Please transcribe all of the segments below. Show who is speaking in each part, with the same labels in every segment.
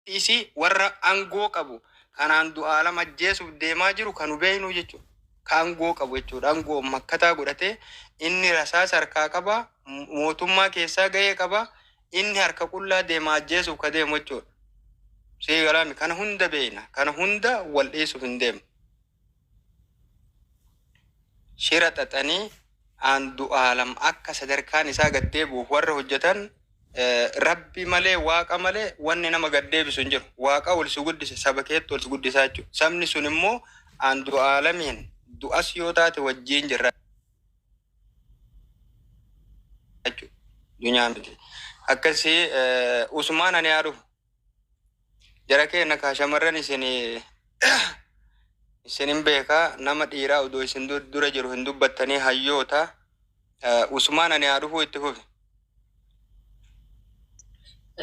Speaker 1: Dhiisii warra angoo qabu kanaan du'aalam ajjeesuf deemaa jiru ka nu beeknuu jechu ka angoo qabu jechuudha angoon makkataa godhatee inni rasaasa harkaa qaba mootummaa keessaa gahee qaba inni harka qullaa deema ajjeesuf ka deemu jechuudha sii galaami kana hunda beekna kana hunda wal dhiisuf hin deemnu. shira xaxanii Aandu'aalam akka sadarkaan isaa gad deebi'uuf warra hojjetan rabbi malee waaqa malee wanni nama gad deebisu hin jiru. Waaqa ol si guddise saba keetti ol si guddisaa jechuudha. Sabni sun immoo Aandu'aalamiin du'as yoo taate wajjiin jirra jechuudha. Dunyaa miti. Akkasii Usmaan ani haa dhufu. Jara keenya kaa shamarran isin isin hin beeka nama dhiiraa odoo isin dur- dura jiru hin dubbattanii hayyoota Eh, Usmaan ani haa dhufuu itti fufi.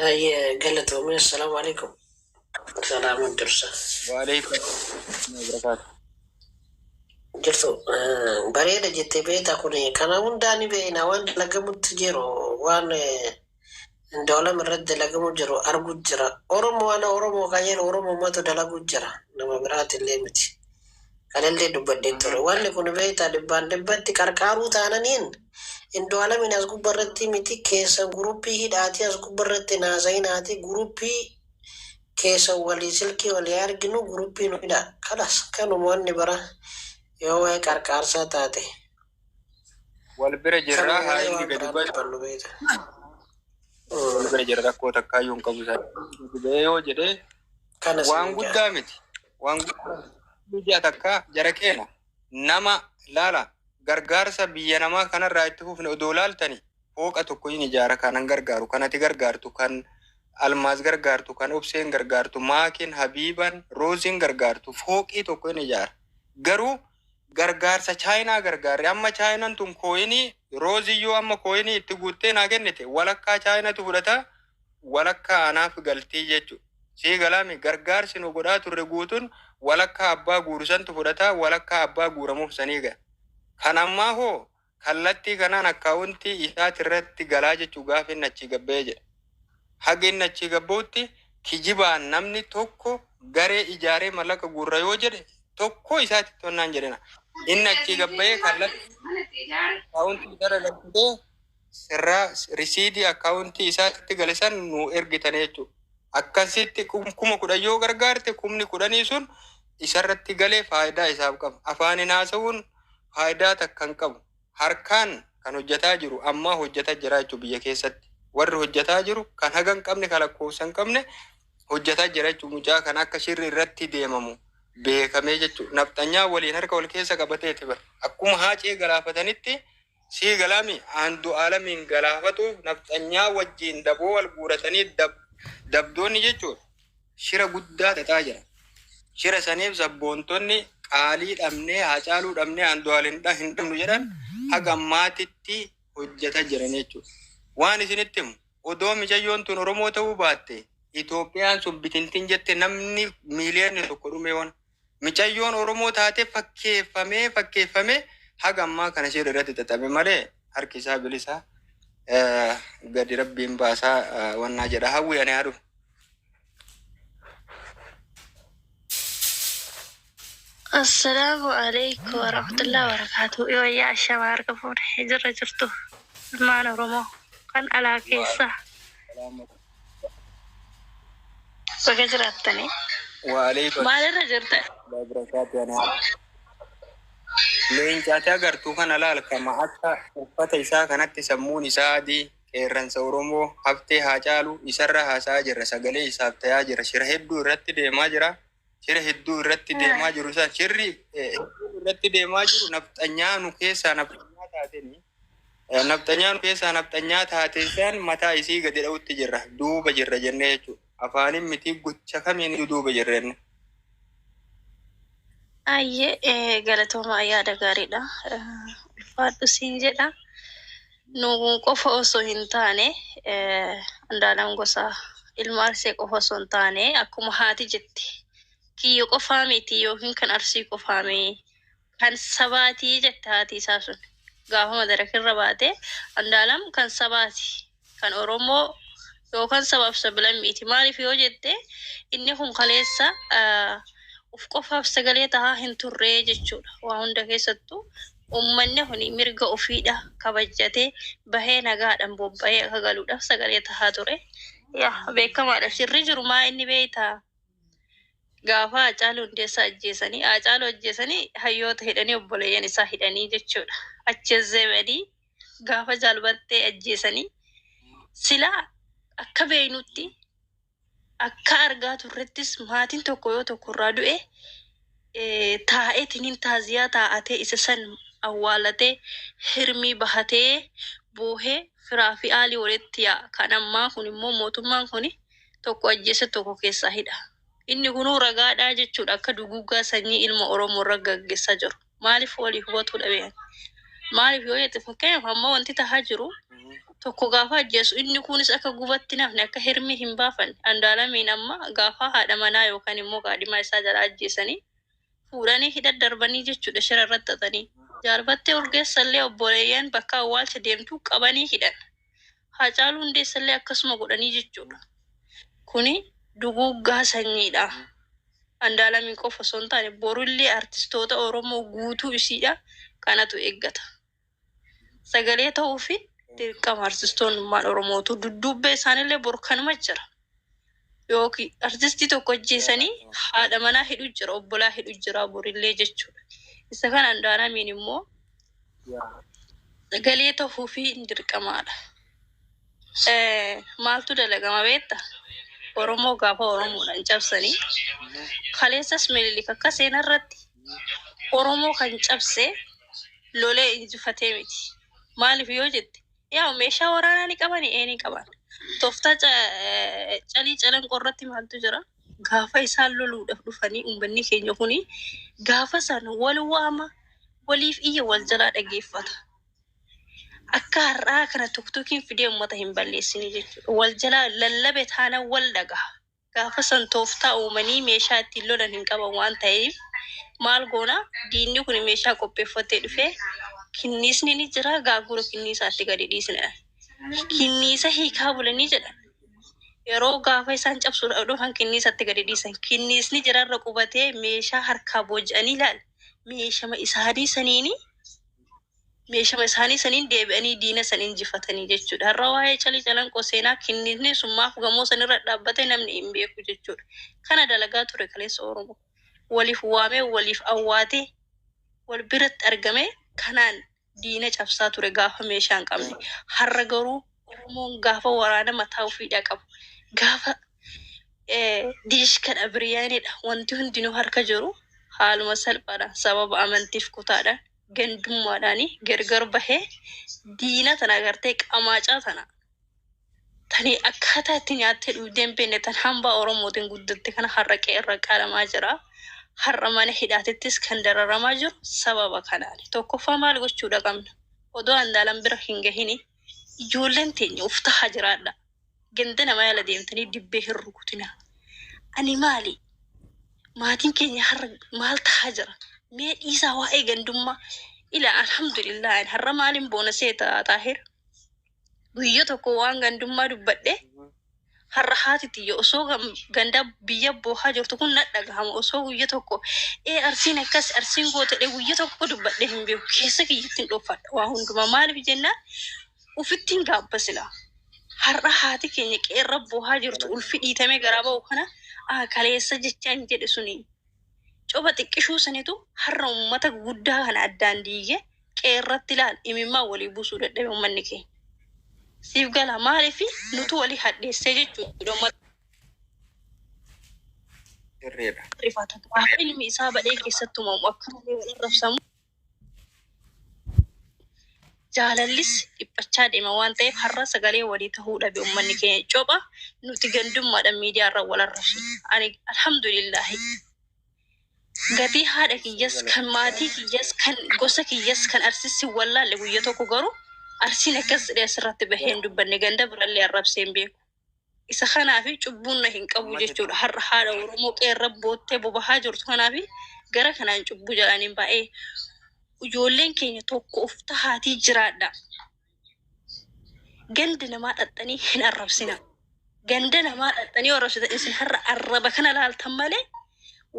Speaker 2: Ayyee galatoomii assalaamu alaikum. Salaama dursa. Waaleykum
Speaker 1: barakaatu.
Speaker 2: Jirtu eh, bareeda jettee beektaa kun kana hundaa ni beekna waan dalagamutti jiru waan eh, Indoolam irratti dalagamu jiru argu jira. Oromo ana Oromo kan jedhu Oromumatu dalagu jira. Nama biraati illee miti. Kanallee dubbadhee ture. Wanni kun beektaa dhibbaan dhibbatti qarqaaruu taananiin Indooalamiin as gubba irratti miti keessan guruppii hidhaatii as gubba irratti naasayinaatii guruppii keessan walii silkii walii arginu guruppii nu hidhaa. Kalas kanuma wanni biraa yoo waa'ee qarqaarsaa taate.
Speaker 1: Wal bira jirra haa inni gadi ba'e. Wal bira jirra rakkoo takkaa yoo hin qabu isaa. Gadi ba'ee yoo jedhee waan guddaa miti. Waan guddaa biyya takkaa jara keena nama laala gargaarsa biyya namaa kanarraa itti fufne odoo laaltani fooqa tokko hin ijaara kanan gargaaru kan ati gargaartu kan almaaz gargaartu kan obseen gargaartu maakin habiiban rooziin gargaartu fooqii tokko hin ijaara garuu gargaarsa Chaayinaa gargaarre. Amma Chaayinan tun kooyinii, Roozii yoo amma kooyinii itti guuttee naa kennite, walakkaa Chaayinatu fudhata, walakkaa anaaf galti jechu. Sii galaami? Gargaarsi nu godhaa turre guutun walakkaa abbaa guuru santu fudhata, walakkaa abbaa guuramuuf sanii ga. Kan ammaa hoo? Kallattii kanaan akkaawuntii isaatirratti galaa jechuun gaafa inni achii gad bahee jedha. Haga inni achii gad bahutti kijibaan namni tokko garee ijaaree mallaqa guurra yoo jedhe tokkoo isaatti tonnaan jedhina. Inni achii gad bahee kallattii akkaawuntii isaarra galchitee sirraa risiidii akkaawuntii isaatti gale san nuu ergitanii jechuudha. Akkasitti kum- kuma kudhan yoo gargaarte kumni kudhanii sun isarratti galee faayidaa isaaf qaba. Afaaniin haasa'uun faayidaa takka hin qabu. Harkaan kan hojjataa jiru ammaa hojjata jira jechuudha biyya keessatti. Warri hojjataa jiru kan haga hin qabne kan lakkoofsa hin qabne hojjata jira jechuudha. Mucaa kan akka shirri irratti deemamu beekamee jechuudha. Nafxanyaa waliin harka wal keessa qabateeti bara. Akkuma haacee galaafatanitti Sii galaa mii Andualamiin galaafatuuf nafxanyaa wajjiin daboo wal guuratanii dabdoonni jechuun shira guddaa xaxaa jira. Shira saniif sabboontonni qaalii dhabnee Haacaaluu dhabnee Andual hin dhabnu jedhan haga ammaatitti hojjata jiran jechuudha. Waan isinitti himu odoo micayyoon tun Oromoo ta'uu baatte Itoophiyaan sun bitintin jette namni miiliyoonni tokko dhumee ona. micayyoon Oromoo taatee fakkeeffamee fakkeeffamee haga ammaa kana ishee irratti xaxame malee harki isaa bilisa gadi rabbiin baasaa wannaa jedha hawwii ani haadhu.
Speaker 3: Assalaamu alaikum warahmatullahi wabarakatuh. Yoo yaa ashama harka fuune jirra jirtu ilmaan Oromoo kan alaa keessa Baga jiraattani. Waaleykum Maal
Speaker 1: irra jirtan?
Speaker 3: Waaleykum
Speaker 1: barakaatu anaa. Leenca ati agartu kana laal kama akka uffata isaa kanatti sammuun isaa adii qeerransa Oromoo haftee haa caalu isarra haasa'aa jirra sagalee isaaf ta'aa jirra shira hedduu irratti deemaa jira shira hedduu irratti deemaa jiru isaan shirri eh, hedduu irratti deemaa jiru nafxanyaa nu keessaa nafxanyaa taateen eh, nafxanyaa nu keessaa nafxanyaa taate isaan mataa isii gadi dha'utti jirra duuba jirra jennee jechuudha afaanin mitii gocha kamiin iyyuu duuba jirra jenne.
Speaker 3: Ayyee eh, galatooma yaada gaariidha. Eh, Ulfaadhu siin jedha. Nu qofa osoo hin taane, Andaalam Gosaa ilma Arsee qofa osoo hin taane, akkuma haati jette kiyya qofaa miti ykn kan Arsii qofaa mi, kan sabaati jette haati isaa sun gaafa madaraka irra baate, Andaalam kan sabaati, kan Oromoo yookaan sabaa fi sablammiiti. Maaliif yoo jette inni kun kaleessa of qofaaf sagalee tahaa hin turre jechuudha. Waa hunda keessattuu Uummanni kun mirga ofii dha kabajjatee bahee nagaadhan bobba'ee akka galuudhaf sagalee tahaa ture. Yaa beekamaa dha shirri jiru maa inni beeytaa? Gaafaa Haacaaluu Hundeessaa ajjeesanii Haacaaluu ajjeesanii hayyoota hidhanii obboleeyyan isaa hidhanii jechuu dha. Achezeebadii gaafa Jaal Bartee ajjeesanii silaa akka beeynutti. Akkaa argaa turrettis maatin tokko yoo tokko irraa du'e taa'etinin taaziyaa taa'atee isa san awwaalatee hirmii bahatee boohee firaa fi aalii walitti yaa'a kan ammaa kun immoo mootummaan kuni tokko ajjeese tokko keessaa hidha inni kunuu ragaadhaa jechuudha akka duguuggaa sanyii ilma oromoo irra gaggessaa jiru. maaliif walii hubatuu dhabe ani maaliif yoo jette fakkeenyaaf amma wanti tahaa jiru tokko gaafa ajjeesu inni kunis akka gubatti nafne akka hirmii hin baafanne andaalamiin amma gaafa haadha manaa yookaan immoo kaadhimaa isaa jala ajjeesanii fuudhanii hidha darbanii jechuudha shira irratti xaxanii jaalbattee urgeessallee obboleeyyan bakka awwaalcha deemtu qabanii hidhan Haacaaluu Hundeessallee akkasuma godhanii jechuudha. Kuni duguuggaa sanyiidha. Andaalamiin qofa osoo hin taane borillee artistoota Oromoo guutuu isiidha kanatu eeggata. Sagalee ta'uufi dirqama artistoonni ummaan Oromootu dudduubbee isaanillee bor kanuma jira. yookiin artistii tokko ajjeesanii haadha manaa hidhu jira obbolaa hidhu jira borillee jechuudha isa kana andaaramiin immoo galee tahuu fi dirqamaadha maaltu dalagama beetta oromoo gaafa oromoodhaan cabsanii kaleessas mililik akka seenaa irratti oromoo kan cabse lolee injifatee miti maaliif yoo jette Yaa meeshaa waraanaa ni qabani ee ni qaban. Tooftaa ca- eh, calii calanqoo irratti maaltu jira? Gaafa isaan loluudhaaf dhufanii uummanni keenya kuni gaafa san wal waama waliif iyya wal jalaa dhageeffata. Akka har'aa kana tokkokiin fidee uummata hin balleessine jechuudha. Wal jalaa lallabe taana wal dhagaha. Gaafa san tooftaa uumanii meeshaa ittiin lolan hin qaban waan taheef maal goona diinni kun meeshaa qopheeffatee dhufee kinniisni ni jira gaagura kinniisaatti gadi dhiisna. Kinniisa hiikaa bulanii jedhan. Yeroo gaafa isaan cabsuudhaaf dhufan kinniisatti gadi dhiisan. Kinniisni jirarra qubatee meeshaa harkaa booji'anii ilaali. Meeshama isaanii saniini meeshama isaanii saniin deebi'anii diina san injifatanii jechuudha. Har'a waa'ee Cali Calanqoo seenaa kinniisni sun maaf gamoo san irra dhaabbate namni hin beeku jechuudha. Kana dalagaa ture kaleessa Oromoo. Waliif waamee, waliif awwaatee, wal biratti argamee kanaan diina cabsaa ture gaafa meeshaa hin qabne. Har'a garuu Oromoon gaafa waraana mataa ofiidhaa qabu, gaafa diishkadha, biriyaaneedha wanti hundinuu harka jiru haaluma salphaadhaan sababa amantiif kutaadhaan gandummaadhaani gargar bahee diina tana agartee qamaacaa tana tani akkaataa itti nyaattee dhugdee hin beekne tan hambaa Oromootiin guddatte kana har'a qe'ee irra qaalamaa jira. Har'a mana hidhaatittis kan dararamaa jiru sababa kanaani. Tokkoffaa maal gochuudha qabna? Odoo Andaalam bira hin gahini ijoolleen teenya uf tahaa jiraadha. Ganda namaa jala deemtanii dibbee hin rukutinaa. Ani maali? Maatiin keenya har'a maal tahaa jira? Mee dhiisaa waa'ee gandummaa. Ila alhamdulillah ani har'a maaliin boona seeta Xaahir? Guyya tokko waan gandummaa dubbadhe har'a haati tiyya osoo gam- ganda biyya boohaa jirtu kun na dhagahama osoo guyya tokko ee arsiin akkas arsiin gootadhe guyya tokko dubbadhe hin beeku keessa kiyyatti hin dhoofadha waa hundumaa maaliif jennaan Ufitti hin gaabba silaa. Har'a haati keenya qe'erra boohaa jirtu ulfi dhiitamee garaa ba'u kana a kaleessa jechaan jedhe suni coba xiqqishuu sanitu har'a ummata guddaa kana addaan diigee qe'erratti laal imimmaan walii buusuu dadhabe ummanni keenya. Siif gala maalifi nutu walii hadheessee jechuudha ummata Sirriidha. rifatu. Gaafa ilmi isaa badhee keessatti uumamu akka malee wal arrabsamu. jaalallis dhiphachaa deema waan ta'eef har'a sagalee walii tahuu dhabe ummanni keenya copha nuti gandummaadhaan miidiyaa irra wal arrabsina. Ani alhamdulillahi gatii haadha kiyyas kan maatii kiyyas kan gosa kiyyas kan arsissi wallaalle guyya tokko garuu arsiin akkas jedhee asirratti bahee hin dubbanne ganda birallee arrabsee hin beeku. Isa kanaafi cubbuun na hin qabu jechuudha. Har'a haadha Oromoo qeerra boottee bobahaa jirtu kanaafi gara kanaan cubbuu jedhaniin baay'ee ijoolleen keenya tokko of tahaatii jiraadha. Ganda namaa dhaxxanii hin arrabsina. Ganda namaa dhaxxanii arrabsitan isin har'a arraba kana laaltan malee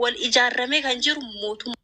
Speaker 3: wal ijaarramee kan jiru mootummaa.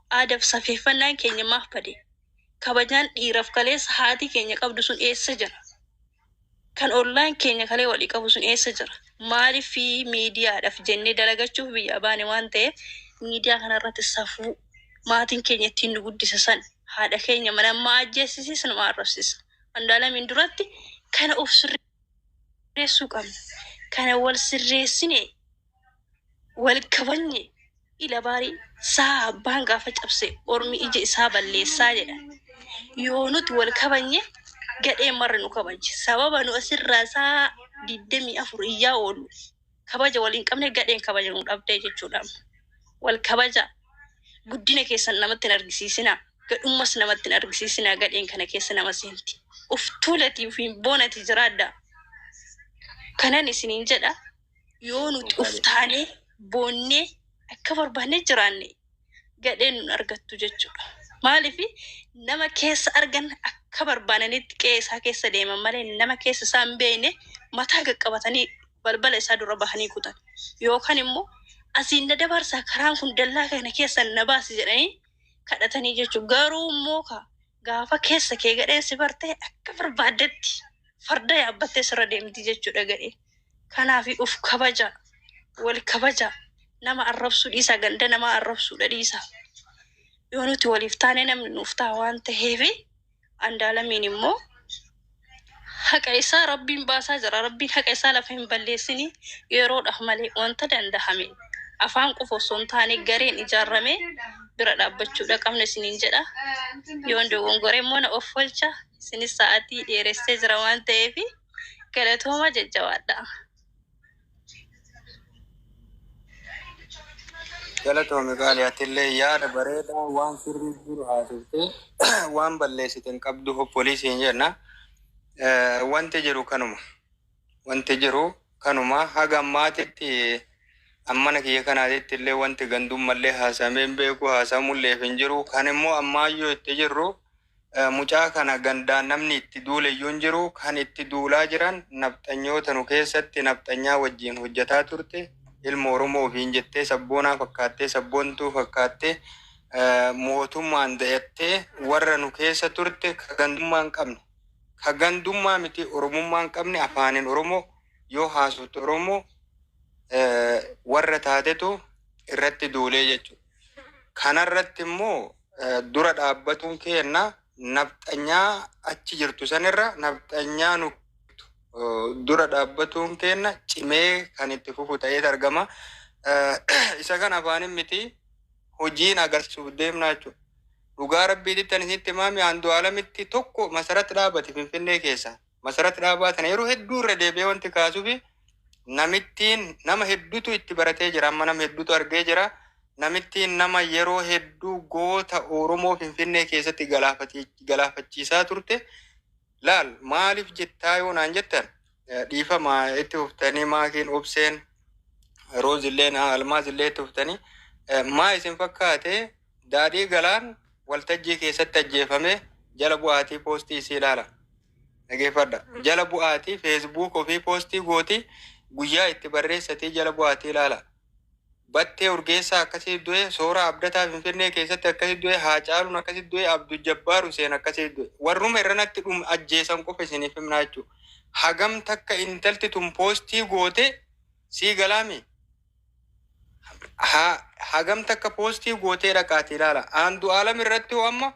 Speaker 3: Aadaf safeeffannaan keenya maaf bade? Kabajaan dhiiraf kaleessa haati keenya qabdu sun eessa jira? Kan ollaan keenya kalee walii qabu sun eessa jira? Maaliif miidiyaadhaf jennee dalagachuuf biyyaa baane waan ta'eef miidiyaa kanarratti safuu maatiin keenya ittiin nu guddise san haadha keenya mana ammaa ajjeessisi sinumaa arrabsisa. Andaalamiin duratti kana of sirri. sirreessuu qabna. Kana wal sirreessine, wal kabajne ila baari saa abbaan gaafa cabse ormi ija isaa balleessaa jedhan. Yoo nuti wal kabajne gadheen marri nu kabajji. Sababa nu asirraa saa 24 iyyaa oollu. kabaja wal hin qabne gadheen kabaja nu dhabde jechuudhaam. Wal kabajaa. Guddina keessan namatti hin argisiisinaa. Gadhummas namatti hin argisiisinaa gadheen kana keessa nama seenti. Uf tuulati ufiin boonati jiraadhaa. Kanan isiniin jedha yoo nuti uf taanee boonnee akka barbaanne jiraanne. gadheen nun argattu jechuudha. Maaliif nama keessa argan akka barbaananitti qe'ee isaa keessa deeman malee nama keessa isaa hin beekne mataa qaqqabatanii balbala isaa dura bahanii kutan. Yookaan immoo asiin na dabarsaa karaan kun dallaa kana keessa na baasi jedhanii kadhatanii jechuudha. Garuu immoo ka gaafa keessa kee gadheen si barte akka barbaaddetti farda yaabbattee sirra deemti jechuudha gadheen. Kanaafi of kabajaa. Wal kabajaa. Nama arrabsuu dhiisaa ganda namaa arrabsuudha dhiisaa. Yoo nuti waliif taane namni nuuf ta'a waan ta'eefi Andaalamiin immoo haqa isaa rabbiin baasaa jira rabbiin haqa isaa lafa hin balleessini yeroodhaaf malee wanta danda'ame afaan qofa osoo hin taane gareen ijaarramee bira dhaabbachuudha qabna isiniin jedha yoon dogongore immoo na offolcha isinis sa'aatii dheeressee jira waan ta'eefi Galatooma jajjabaadha.
Speaker 1: Galatoomi qaali atillee yaada bareedaa waan sirrii jiru haasofte waan balleessite hin qabdu hoppolii siin jenna. Eh, Wanti jiru kanuma. Wanti jiru kanuma haga ammaatitti ammana kiyya kanaatitti illee wanti gandummallee haasamee hin beeku haasamulleef hin jiru. Kan immoo ammaayyuu itti jirru Mucaa kana gandaan namni itti duuleyyuu hin jiru. Kan itti duulaa jiran nafxanyoota nu keessatti nafxanyaa wajjiin hojjataa turte ilma Oromoo ofiin jettee sabboonaa fakkaattee sabboontuu fakkaattee mootummaan dayattee warra nu keessa turte ka gandummaa hin qabne ka gandummaa miti Oromummaa hin qabne afaanin Oromoo yoo haasofte Oromoo warra taatetu irratti duulee jechuudha. Kanarratti immoo dura dhaabbatuun keenna nafxanyaa achi jirtu sanirra nafxanyaa nu dura dhaabbatuun keenna cimee kan itti fufu ta'eet argama. Isa kan afaanin miti hojiin agarsiisuuf deemnaa jechuudha. Dhugaa rabbiititti ani sitti maami aandu alamitti tokko masaratti dhaabate finfinnee keessa. Masarat Dhaabaa tana yeroo hedduu irra deebi'ee wanti kaasufi namittiin nama hedduutu itti baratee jira amma nama hedduutu argee jira namittiin nama yeroo hedduu goota Oromoo Finfinnee keessatti galaafati- galaafachiisaa turte laal maaliif jettaa yoo naan jettan eh, dhiifama itti fuftanii maakiin obseen roozilleen almaazillee itti fuftanii eh, maa isin fakkaate Daadhii Galaan waltajjii keessatti ajjeefame jala bu'aatii poostii isii ilaala. Dhageeffadha. Jala bu'aatii Facebook ofii poostii gooti, guyyaa itti barreessatii jala bu'aatii ilaala. Battee Urgeessaa akkasii du'e, Sooraa Abdataa Finfinnee keessatti akkasii du'e, Haacaaluun akkasii du'e, Abdul Jabbaar Huseen akkasii du'e. Warruma irranatti dhum ajjeesan qofa isiniif himnaa jechuu. Hagam takka intalti tun poostii goote sii galaamii? Ha, hagam takka poostii gootee dhaqaati ilaala. Aandu'aalam irratti hoo amma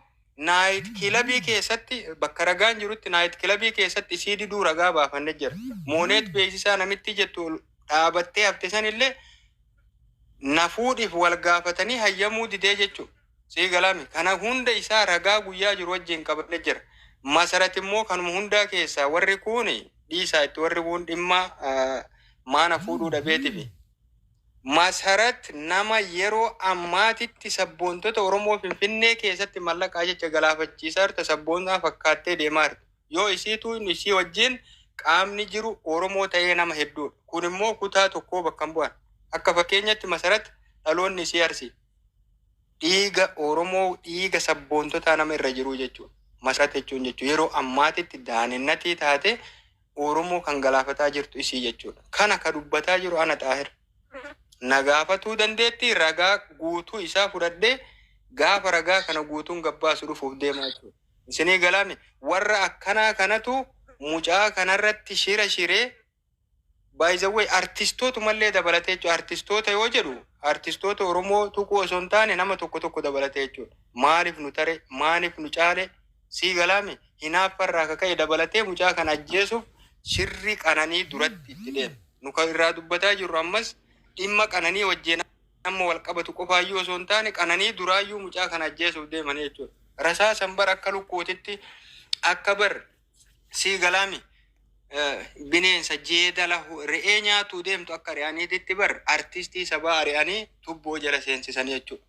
Speaker 1: naayit kilabii keessatti bakka ragaan jirutti naayit kilabii keessatti isii diduu ragaa baafanne jira. Mooneet beeksisaa namittii jettu ol dhaabattee hafte sanillee na fuudhiif wal gaafatanii hayyamuu didee jechuudha. Sii galami kana hunda isaa ragaa guyyaa jiru wajjin qabane jira masarat immoo kanuma hundaa keessaa warri kuuni dhiisaa itti warri kuun dhimma maana fuudhuu dhabeetifi masarat nama yeroo ammaatitti sabboontota oromoo finfinnee keessatti mallaqaa jecha galaafachiisaa jirta sabboonaa fakkaattee deemaa jirta yoo isiituu inni isii wajjin qaamni jiru oromoo ta'ee nama hedduudha kun immoo kutaa tokkoo bakka hin bu'an akka fakkeenyatti masarat dhaloonni isii arsii Dhiiga Oromoo dhiiga sabboontotaa nama irra jiruu jechuudha. Masarat jechuun jechuun yeroo ammaatitti daanennatii taatee Oromoo kan galaafataa jirtu isii jechuudha. Kana ka dubbataa jiru ana Xaahir. Na gaafatuu dandeettii ragaa guutuu isaa fudhadhee gaafa ragaa kana guutuun gabbaasu dhufuuf deema jechuudha. Isinii galaami warra akkanaa kanatu mucaa kanarratti shira shiree By the way artistootumallee dabalatee jechuudha. Artistoota yoo jedhu artistoota Oromoo tuquu osoo hin taane nama tokko tokko dabalatee jechuudha. Maaliif nu tare, maaliif nu caale sii galaami? Hinaaffa irraa ka ka'e dabalatee mucaa kana ajjeesuuf shirri Qananii duratti itti deeme. Nu ka irraa dubbataa jirru ammas dhimma Qananii wajjin amma wal qabatu qofaayyuu osoo hin taane Qananii duraayyuu mucaa kana ajjeesuuf deemanii jechuudha. Rasaasan bar akka lukkuutitti akka bar Sii galaami bineensa jeeda lahu re'ee nyaatuu deemtu akka ari'aniititti bar artistii sabaa ari'anii tubboo jala seensisanii jechuudha.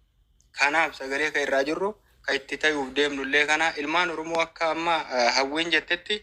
Speaker 1: Kanaaf sagalee kan irraa jirru kan itti tayuuf deemnullee kana ilmaan Oromoo akka amma hawwiin jettetti